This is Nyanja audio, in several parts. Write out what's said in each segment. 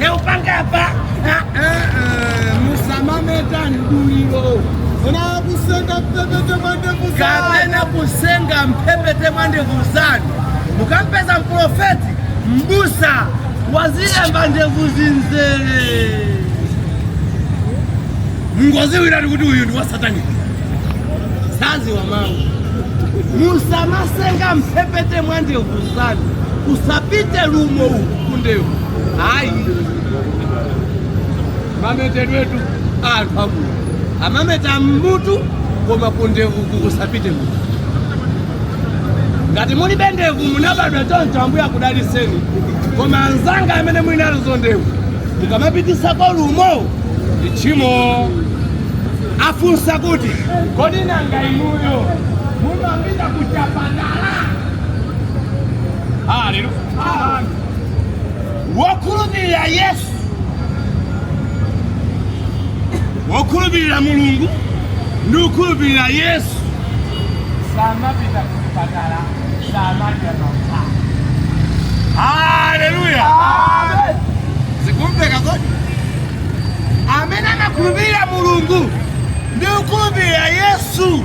naupanga apa musamameta mduliro kapena kusenga mphepete mwa ndevu zanu kapena kusenga mphepete mwa ndevu zanu mukampeza mprofeti mbusa wazilemba ndevu zinzere mungoziwiratu kuti uyu ndi wasataniki saziwa mawu musamasenga mphepete mwa ndevu zanu kusapite lumo kundevu ayi mametedwetu anthu amuna amameta mmutu koma kundevuku kusapite mutu ngati mulibe ndevu munabadwa choncho ambuye akudaliseni koma anzanga amene muli nazo ndevu mukamapitisako lumo ndi tchimo afunsa kuti kodi nanga inuyo mumapita kuchipatala haleluya wokhulupirira yesu wokhulupirira mulungu ndi kukhulupirira yesu samapita kuchipatala samadya mankhwala haleluya zikumveka kodi amene amakhulupirira mulungu ndi kukhulupirira yesu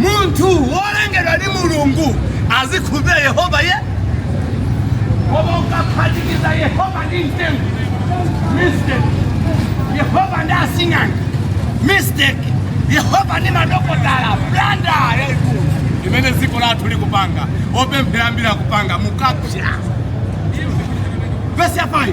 munthu wolengedwa ndi mulungu azikhulupirira yehova yekha koma ukaphatikiza yehova ndi mtengo mistake yehova ndi asing'anga mistake yehova ndi madokotala blunder yaikulu imene dziko lathu likupanga opemphera ambiri akupanga mukapya vesi ya 5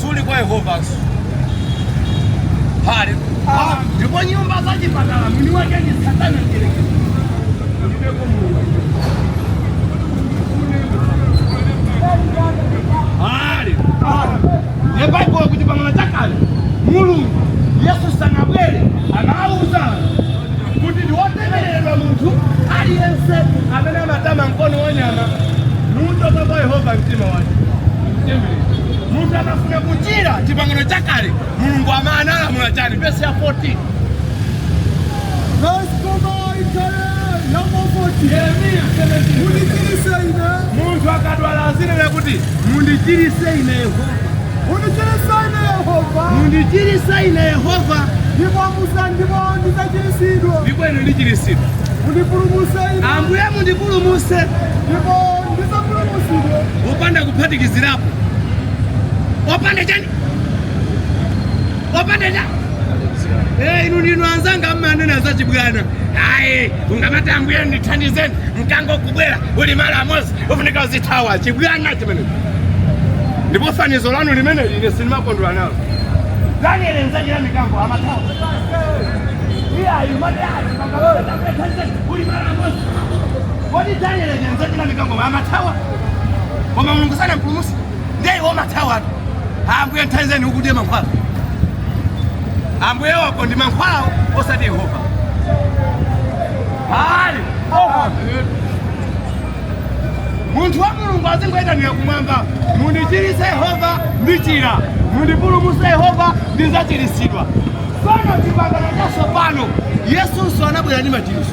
suli kwa yehovanso hale ndipo nyumba za chipatala mwini wake ndi satana mdyerekezi kulibeko mulungu hale ne baibulo kuchipangano chakale mulungu yesu sanabwere anauza kuti ndiwotembereredwa munthu aliyense amene amatama mkono wa nyama nuchoka kwa yehova mtima wake munthu akafuna kuchira chipangano chakale mulungu ama analamula chani vesi ya 14 yeremiya 17 munthu akadwala azinena kuti mundichirise ine yehova mundichirise ine yehova ndipo ine ndichirisidwa ambuye mundipulumuse opanda kuphatikizirapo opanda chani opanda chani inu ndinu anzanga mmanena za chibwana ayi ungamati ambuye ndithandizeni mkango kubwera uli malo amodzi ufunika uzithawa chibwana chimene ndipo fanizo lanu limene ine sindimakondwera nalo daniel mdzenje la mikango amathawa iye ayi mati ayi mkango uli malo amodzi Kodi Daniele mdzenje la mikango amathawa? Koma Mulungu sanampulumutse? Ndiye iwe umathawatu. Ambuye ndithandizeni ukudya mankhwala. Ambuye wako ndi mankhwalawo osati Yehova. Hali. Munthu wa Mulungu azingoyitanira kumwamba, mundichiritse Yehova ndichira, mundipulumutse Yehova ndidzachiritsidwa. Pano chipangano chatsopano Yesunso anabwera ndi machiritso.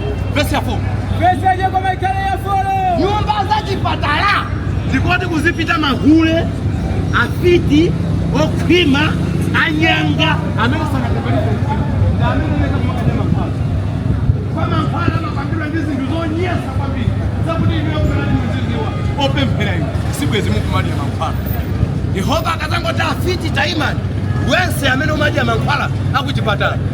Vesi ya 4. Vesi ya jeko maikale ya folo. Nyumba za chipatala. Zikoti kuzipita mahule, afiti, okhwima, anyanga. Amene sanakapeleke. Ndi amene neka kumakadya mankhwala. Koma mankhwala amapangidwa ndi zinthu zonyansa kwambiri. Zakuti inuyo kubera ndi muzidziwa. Opemphera inu. Sibwezi mukumadya mankhwala. Yehova akadzangoti afiti taimani. Wense amene umadya mankhwala akuchipatala.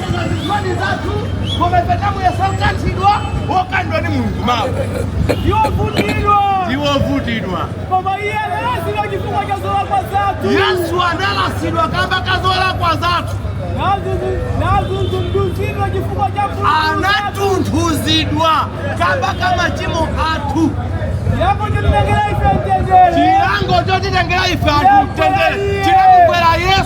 zisoni zathu koma ife tidamuyesa wokanthidwa wokanthidwa ndi mulungu mawu wovutidwa ndi wovutidwa koma iye analasidwa chifukwa cha zolakwa zathu yesu analasidwa kamba ka zolakwa zathu natundudzidwa chifukwa cha anatundudzidwa kamba ka machimo athu chilango chotitengera ife anthu mtendere chinamugwera yesu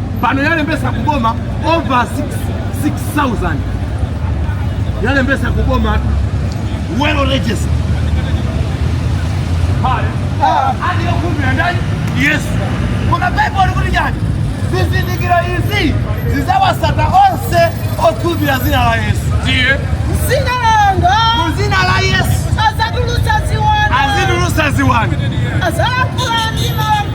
pano yalembesa kuboma over 6000 yalembesa kuboma well registered pale ali yokhulupirira ndani yesu koma baibulo likuti chani zizindikiro izi zidzawatsata onse okhulupirira dzina la yesu ndiye dzina langa mu dzina la yesu adzatulutsa ziwanda azitulutsa ziwanda adzalankhula ndi malamulo